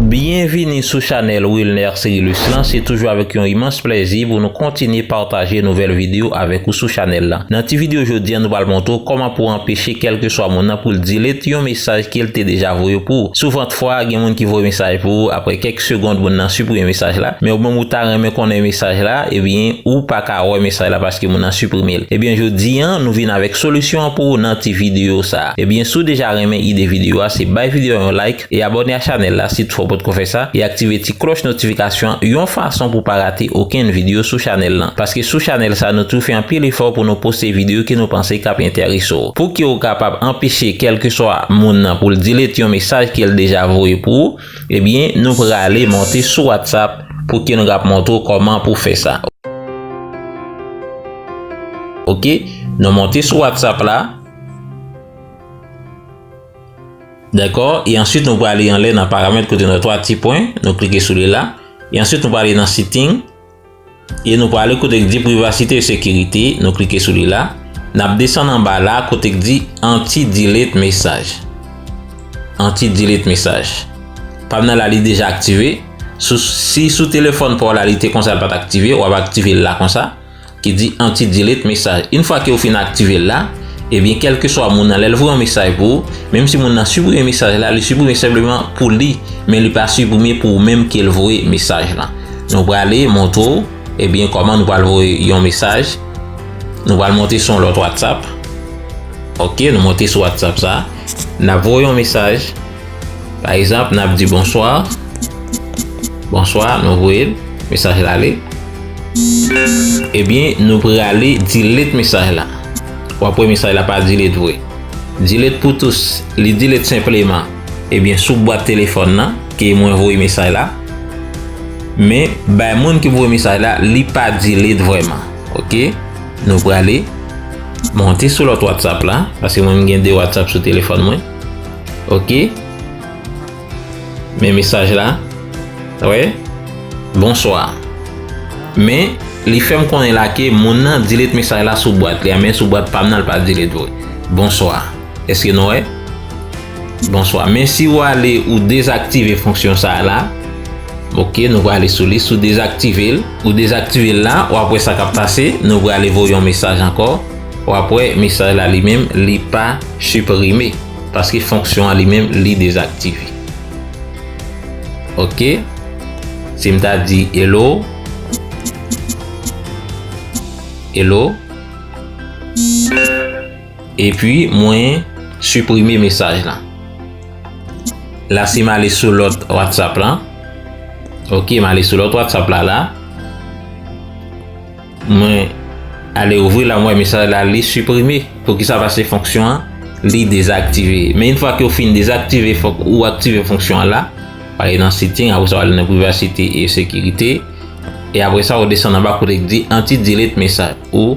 Byenvini sou chanèl Wilner Cerilus lan, se toujou avèk yon imans plèzi pou nou kontinye pataje nouvèl videyo avèk ou sou chanèl lan. Nan ti videyo jodi an nou pral montre w kòman pou anpeche kèlkeswa moun nan pou l delete yon mesaj ke l te deja voye pou ou. Souvant fwa gen moun ki voye mesaj pou ou aprè kèk segond moun nan siprime mesaj la men ou menm ou ta renmen konnen mesaj la ebyen ou pa pa wè mesaj la paske moun nan siprimel ebyen jodi an nou vin avèk solisyon an pou ou nan ti video sa ebyen si w deja renmen ide video a se bay video an yon like e abòne a chanèl la si toutfwa w potko fè sa e aktive ti klòch notifikasyon an yon fason pou w pa rate okenn video sou chanèl lan paske sou chanèl sa nou toujou fè anpil efò pou nou poste video ke nou panse kap entèrese w pouki w kapab anpeche kèlkeswa moun nan pou l delete yon mesaj ke l deja voye pou ou. Ebyen nou prale monte sou whatsapp pou ke nou kap montre w koman pou fè sa ok nou monte sou whatsapp la dako e answit nou prale anlè nan paramèt kote nou wè 3 ti pwen nou klike sou li la e answit nou prale nan setting. E nou prale kote k di privasite e sekirite, nou klike sou li la. N ap desann anba la kote k di anti delete mesaj. Anti delete mesaj. Pa m nan la li deja aktive. Si sou telefòn pa w la li te konsa l pa t aktive, w ap aktive l la konsa. Ki di anti delete mesaj. Yn fwa ke ou fin aktive l la, ebyen kelkeswa moun nan lè l voye yon mesaj pou ou, menm si moun nan siprime mesaj la, li siprime senpleman pou li, men li pa siprime pou ou menm ke l voye mesaj lan. Nou prale montre w ebyen kòman nou pral voye yon mesaj. Nou pral monte sou yon lòt whatsapp. Ok nou monte sou whatsapp sa. Nap voye yon mesaj. Pa egzanp nap di bonswa. Bonswa nou voye l. Mesaj la ale. Ebyen nou prale delete mesaj la. Wap wè mesaj la pa delete vre. Delete pou tous. Li delete senpleman. Ebyen sou bwat telefòn nan ke mwen voye mesaj la. Men bay moun ki voye mesaj la li pa delete vreman. Ok nou prale monte sou lòt whatsapp la. Paske mwen gen 2 whatsapp sou telefòn mwen. Ok. Men mesaj la. Wè. Bonswa. Men li fèm konnen la ke moun nan delete mesaj la sou bwat li a. Men sou bwat pam nan li pa delete vre. Bonswa. Eske nou wè. Bonswa men si ou ale ou dezaktive fonksyon sa la ok nou prale sou li si ou dezaktive l ou dezaktive l la wap wè sa kap pase nou prale voye yon mesaj ankò wap wè mesaj la li menm li pa siprime paske fonksyon an li menm li dezaktive ok si m ta di hello hello. Epi mwen siprime mesaj lan. La si m ale sou lòt WhatsApp lan. Ok m ale sou lòt WhatsApp la la. Mwen ale ouvri la mwen mesaj la li siprime. Pou ki sa pase fonksyon an li dezaktive. Men yon fwa ki ou fin dezaktive fòk ou aktive fonksyon an la. Pari nan sitting apre sa w ale nan privasite e sekirite. E apre sa ou desan nan ba kote ki di anti-delete mesaj ou.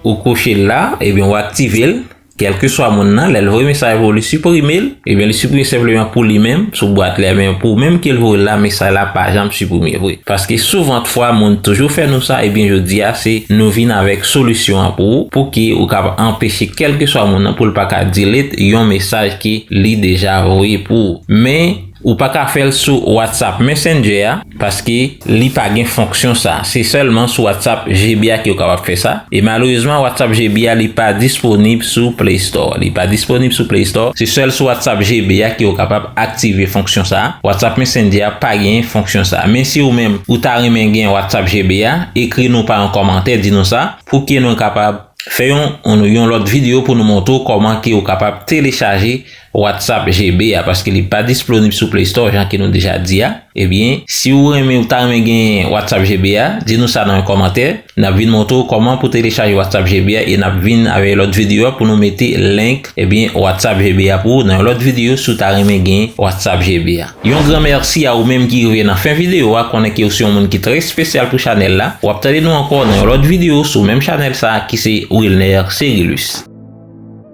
Ou koche l la, ebyen ou aktive l, kèlkeswa moun nan, lè l voye mesaj pou ou li siprime l, ebyen li siprime senpleman pou li menm sou bwat li a, men pou ou menm ke l voye l la mesaj la pa janm siprime vre. Paske souvant fwa moun toujou fè nou sa, ebyen jodi a se nou vin avèk solisyon an pou ou, pou ke ou kab anpeche kèlkeswa moun nan pou l pa ka delete yon mesaj ke li deja voye pou ou. Men, ou pa ka fè l sou WhatsApp Messenger a. Paske li pa gen fonksyon sa. Se sèlman sou WhatsApp GB a ke ou kapab fè sa. E malerezman WhatsApp GB a li pa disponib sou Play Store. Li pa disponib sou Play Store. Se sèl sou WhatsApp GB a ke ou kapab aktive fonksyon sa. WhatsApp Messenger a pa gen fonksyon sa. Men si ou menm ou ta renmen gen WhatsApp GB a, ekri nou pa yon kòmantè di nou sa. Pou ke nou kapab fè yon yon lòt video pou nou montre ou kòman ke ou kapab telechaje Whatsapp GB a paske li pa displonib sou play store jan ke nou deja di a ebyen si ou renmen ou ta renmen genyen Whatsapp GB a di nou sa nan yon kòmantè nap vin montre ou kòman pou telechaje Whatsapp GB a e nap vin avè lòt video a pou nou mete link ebyen Whatsapp GB a pou ou nan yon lòt video si ou ta renmen genyen Whatsapp GB a. Yon gran mèsi a ou menm ki rive nan fen video a konnen ke ou se yon moun ki trè espesyal pou chanèl la wap tande nou ankò nan yon lòt video sou menm chanèl sa ki se Wilner Cerilus.